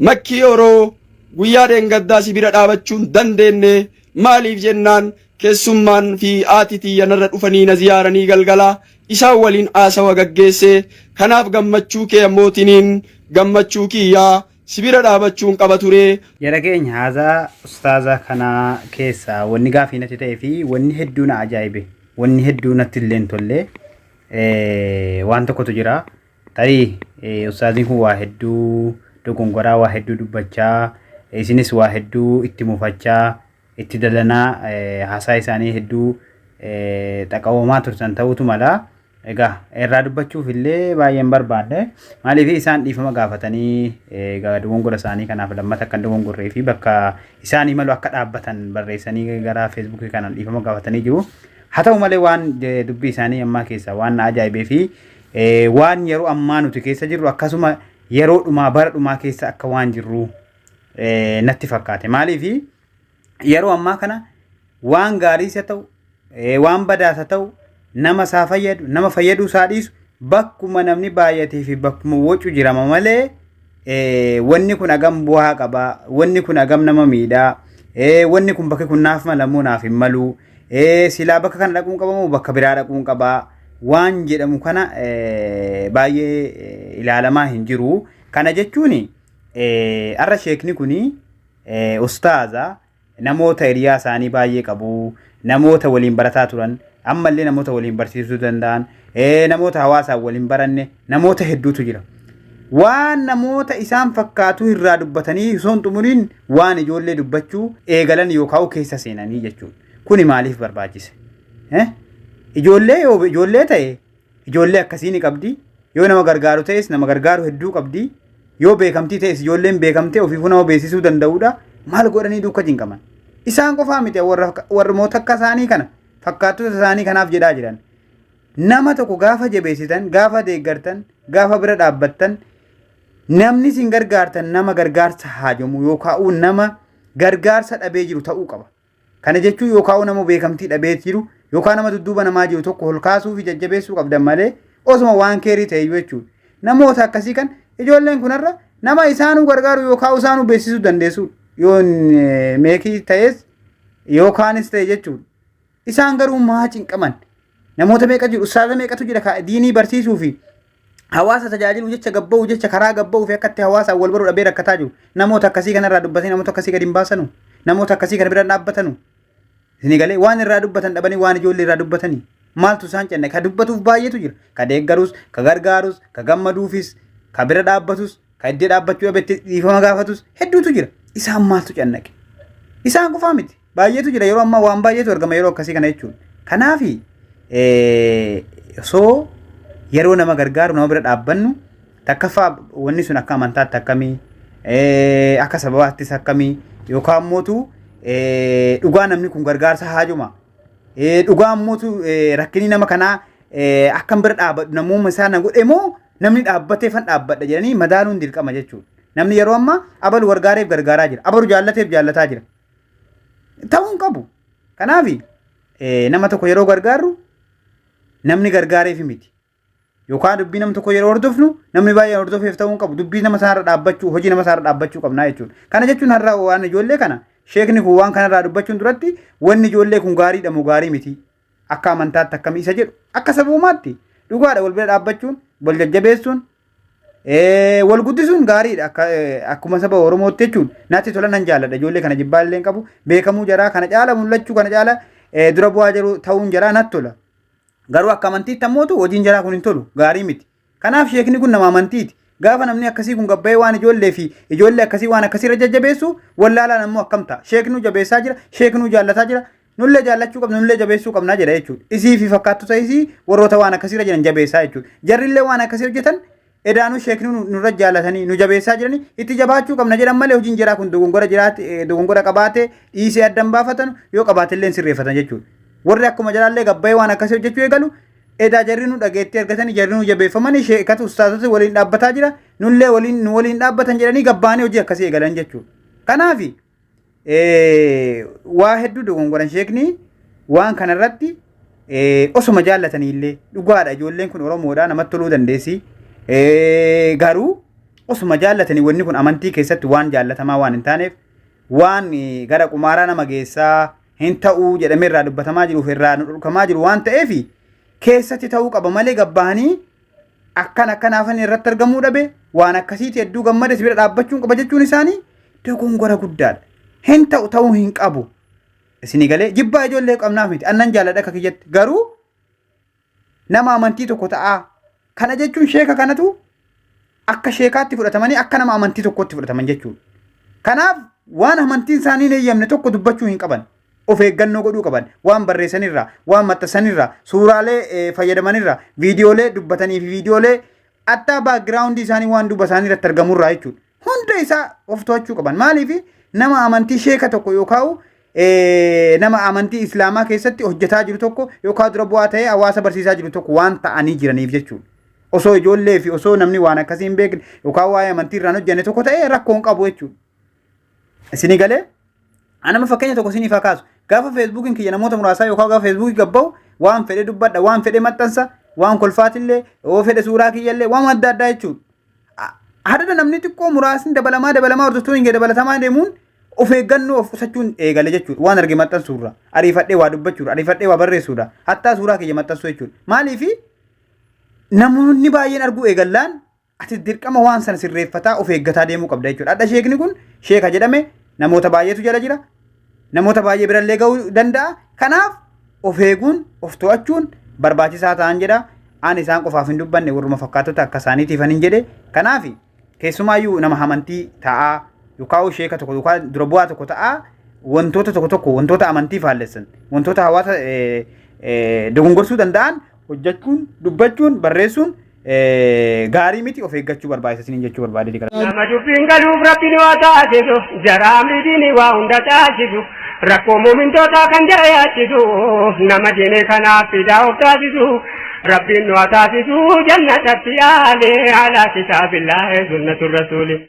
Makkii Oroo guyyaa dheengaddaa si bira dhaabachuu hin dandeenne maaliif jennaan keessummaan fi haati tiyya narra dhufanii na ziyaaranii galgala isaan waliin haasawa gaggeesse kanaaf gammachuu kee ammootiniin gammachuu kiyya si bira dhaabachuun qaba ture. Jara keenya haazaa ustaaza kana keessa wanni gaafii natti ta'ee fi wanni hedduu na ajaa'ibe wanni hedduu natti illee hin tolle waan tokkotu jira Tarii ustaaziin kun waa hedduu dogongoraa waa hedduu dubbachaa isinis waa hedduu itti mufachaa itti dalanaa haasaa isaanii hedduu xaqawamaa turtan ta'utu mala. Egaa irraa dubbachuuf illee baay'een barbaadne maaliif isaan dhiifama gaafatanii egaa dogongora isaanii kanaaf lammata akka dogongorree fi bakka isaanii malu akka dhaabbatan barreessanii gara feesbuukii kanaan dhiifama gaafatanii jiru. Haa ta'u malee waan dubbii isaanii ammaa keessaa waan na ajaa'ibee fi Waan yeroo ammaa nuti keessa jirru akkasuma yeroo dhumaa bara dhumaa keessa akka waan jirru natti fakkaate. Maaliif yeroo ammaa kana waan gaariis haa ta'u waan badaas haa ta'u nama isaa fayyadu nama fayyaduu isaa dhiisu bakkuma namni baay'atee fi bakkuma wacu jirama malee wanni kun hagam bu'aa qaba wanni kun hagam nama miidhaa wanni kun bakki kun naaf malamoo naaf hin maluu Ee silaa bakka kana dhaquun qaba moo bakka biraa dhaquun qaba waan jedhamu kana eh, baay'ee eh, ilaalamaa hin jiru. Kana jechuun eh, har'a sheekni kun eh, ustaaza namoota hiriyaa isaanii baay'ee qabu, namoota waliin barataa turan, ammallee namoota waliin barsiisuu danda'an, ee, namoota hawaasaan wal hin baranne namoota hedduutu jira. Waan namoota isaan fakkaatuu irraa dubbatanii osoo hin xumuriin waan ijoollee dubbachuu eegalan yookaan keessa seenanii jechuudha. Kuni maaliif barbaachise? Eh? Ijoollee yoo ijoollee ta'e ijoollee akkasii ni qabdi. Yoo nama gargaaru ta'es nama gargaaru hedduu qabdi. Yoo beekamtii ta'es ijoolleen beekamtee ofiifuu nama beeksisuu danda'udha. Maal godhanii duuka jinqaman? Isaan qofaa miti warra warroota akka isaanii kana fakkaattoota isaanii kanaaf jedhaa jiran. nama tokko gaafa jabeessitan gaafa deeggartan gaafa bira dhaabbattan namni isin gargaartan nama gargaarsa haajamu yookaan nama gargaarsa dhabee jiru ta'uu qaba. Kana jechuun yookaan nama beekamtii dhabee jiru yookaan nama dudduuba namaa jiru tokko ol kaasuu fi jajjabeessuu qabdan malee osuma waan keerii ta'e jechuudha. Namoota akkasii kan ijoolleen kunarra nama isaanuu gargaaru yookaan isaanuu beeksisuu dandeessu yoo meekii ta'es yookaanis ta'e jechuudha. Isaan garuu maa cinqaman? Namoota meeqa jiru? Ustaaza meeqatu jira? Ka diinii barsiisuu fi hawaasa tajaajiluu jecha gabba'uu jecha karaa gabba'uu fi akkatti hawaasaan wal baruu dhabee rakkataa jiru. Namoota akkasii kanarraa dubbatanii namoota akkasii gadi hin baasanu. Namoota akkasii kana bira hin dhaabbatanu. Isinii galee waan irraa dubbatan dhabanii waan ijoollee irraa dubbatanii. Maaltu isaan cinna? Ka dubbatuuf baay'eetu jira. Ka deeggarus, ka gargaarus, ka gammaduufis, ka bira dhaabbatus, Ka iddee dhaabbachuu dhabetti dhiifama gaafatus hedduutu jira. Isaan maaltu cannaqe? Isaan qofaa miti. Baay'eetu jira yeroo ammaa waan baay'eetu argama yeroo akkasii kana jechuudha. Kanaaf osoo yeroo nama gargaaru nama bira dhaabbannu takkaffaa wanni sun akka amantaatti akkamii akka sababaattis akkamii yookaan mootu dhugaa namni kun gargaarsa haajuma dhugaa mootu rakkinii nama kanaa akkan bira dhaabadhu namuma isaa na godhe moo Namni dhaabbatee fan dhaabbadha jedhanii madaaluun dirqama jechuudha. Namni yeroo ammaa abalu gargaareef gargaaraa jira. Abalu jaallateef jaallataa jira. Ta'uu hin qabu. Kanaaf nama tokko yeroo gargaarru namni gargaareef miti. Yookaan dubbii nama tokko yeroo hordofnu namni baay'een hordofeef ta'uu hin qabu. Dubbii nama sanarra dhaabbachuu hojii nama sanarra dhaabbachuu qabnaa jechuudha. Kana jechuun har'a waan ijoollee kana sheekni kun waan kanarraa dubbachuun duratti wanni ijoollee kun gaariidha moo gaarii miti. Akka amantaatti akkamii isa jedhu akka sabuumaatti dhugaadha wal bira dhaabbachuun wal jajjabeessuun eh, wal guddisuun gaariidha akka eh, akkuma saba Oromootti jechuun natti tola nan jaalladha ijoollee kana jibbaa illee hin qabu beekamuu jaraa kana caala mul'achuu kana caala eh, dura bu'aa jiru ta'uun jaraa natti tola garuu akka amantiitti ammootu hojiin jaraa kun hin tolu gaarii miti Kanaaf sheekni kun nama amantiiti. Gaafa namni akkasii kun gabbayee waan ijoollee fi ijoollee akkasii waan akkasii irra jajjabeessu wallaalaan ammoo akkam ta'a. Sheeknuu jabeessaa jira, sheeknuu jaallataa jira, nullee jaallachuu qabna, nullee jabeessuu qabna jedha jechuudha. Isii fi fakkaattota isii warroota waan akkasii irra jiran jabeessaa jechuudha. Jarrillee waan akkasii hojjetan edaanuu sheeknuu nu- nurra jaallatanii nu jabeessaa jiranii itti jabaachuu qabna jedhan malee hojiin jeraa kun dogongora jiraate eh, dogongora qabaatee dhiisee addan baafatan yoo qabaatellee hin sirreeffatan jechuudha. Warri akkuma jalaallee gabbayee waan akkasii hojjechuu eegalu Edaa jarri nu dhageettii argatanii jarri nu jabeeffamanii sheekatu ustaazota waliin dhaabbataa jira nullee waliin nu waliin dhaabbatan jedhanii gabbaanii hojii akkasii eegalan jechuudha. Kanaaf waa hedduu dogongoran sheekni waan kanarratti osuma jaallatanii illee dhugaadha ijoolleen kun Oromoodha namatti toluu dandeessi. Garuu osuma jaallatanii wanni kun amantii keessatti waan jaallatamaa waan hin taaneef waan gara qumaaraa nama geessaa hin ta'u jedhamee irraa dubbatamaa jiruu fi irraa nu dhorkamaa jiru waan ta'eef keessatti ta'uu qaba malee gabbaanii akkan akkan hafanii irratti argamuu dhabe waan akkasiiti hedduu gammada si bira dhaabbachuun qaba jechuun isaanii dogongora guddaadha. Hin ta'u ta'uu hin qabu. Isinii galee jibbaa ijoollee qabnaaf miti annan jaalladha akka kiyyatti garuu nama amantii tokko ta'aa. Kana jechuun sheeka kanatu akka sheekaatti fudhatamanii akka nama amantii tokkotti fudhataman jechuudha. Kanaaf waan amantiin isaanii hin eeyyamne tokko dubbachuu hin qaban. Of eeggannoo godhuu qaban. Waan barreessanirraa, waan maxxansanirraa, suuraalee eh, fayyadamanirraa, viidiyoolee dubbatanii fi viidiyoolee attaa baakgiraawundii isaanii waan duuba isaanii irratti argamurraa jechuudha. hunda isaa of to'achuu qaban maaliif nama amantii sheeka tokko yookaan nama amantii islaamaa keessatti hojjetaa jiru tokko yookaan dura bu'aa ta'ee hawaasa barsiisaa jiru tokko waan ta'anii jiraniif jechuudha. Osoo ijoollee fi osoo namni waan akkasii hin beekne yookaan waa'ee amantii irraan hojjenne tokko ta'ee rakkoo hin qabu jechuudha. Isinii galee anama fakkeenya tokko isiniif haa kaasu. Gaafa feesbuukiin kiyya namoota muraasaa yookaan gaafa feesbuukii gabba'u waan fedhe dubbadha waan fedhe maxxansa waan kolfaatillee yoo fedhe suuraa kiyyallee waan adda addaa jechuudha. Hadada namni xiqqoo muraasni dabalamaa dabalamaa hordoftoonni kee dabalatamaa deemuun of eeggannoo of qusachuun eegale jechuudha. Waan arge maxxansuurra ariifadhee waa dubbachuudha ariifadhee waa barreessuudha hattaa suuraa kiyya maxxansuu jechuudha. Maaliifi namoonni baay'een arguu eegallaan ati dirqama waan sana sirreeffataa of eeggataa deemuu qabda jechuudha. Hadha sheekni kun sheeka jedhame namoota baay'eetu jala jira namoota baay'ee birallee ga'uu danda'a. Kanaaf of eeguun, of to'achuun barbaachisaa ta'an jedha. Aan isaan qofaaf hin dubbanne warruma fakkaatota akka isaaniitiifan hin jedhe. Kanaaf keessumaayyuu nama amantii ta'aa yookaan sheeka tokko yookaan dura bu'aa tokko ta'aa wantoota tokko tokko wantoota amantii faallessan wantoota hawaasa dogongorsuu danda'an hojjechuun, dubbachuun, barreessuun gaarii miti of eeggachuu barbaachisa isiniin jechuu barbaade dikala. Nama dubbiin galuuf rabbiin waa taasisu jaraa miidhiin waa hunda taasisu rakkoo muumintootaa kan jara yaachisu nama diine kanaaf fidaa of taasisu rabbiin waa taasisu jannatatti aale alaa kitaabillaahi sunnatu rasuuli.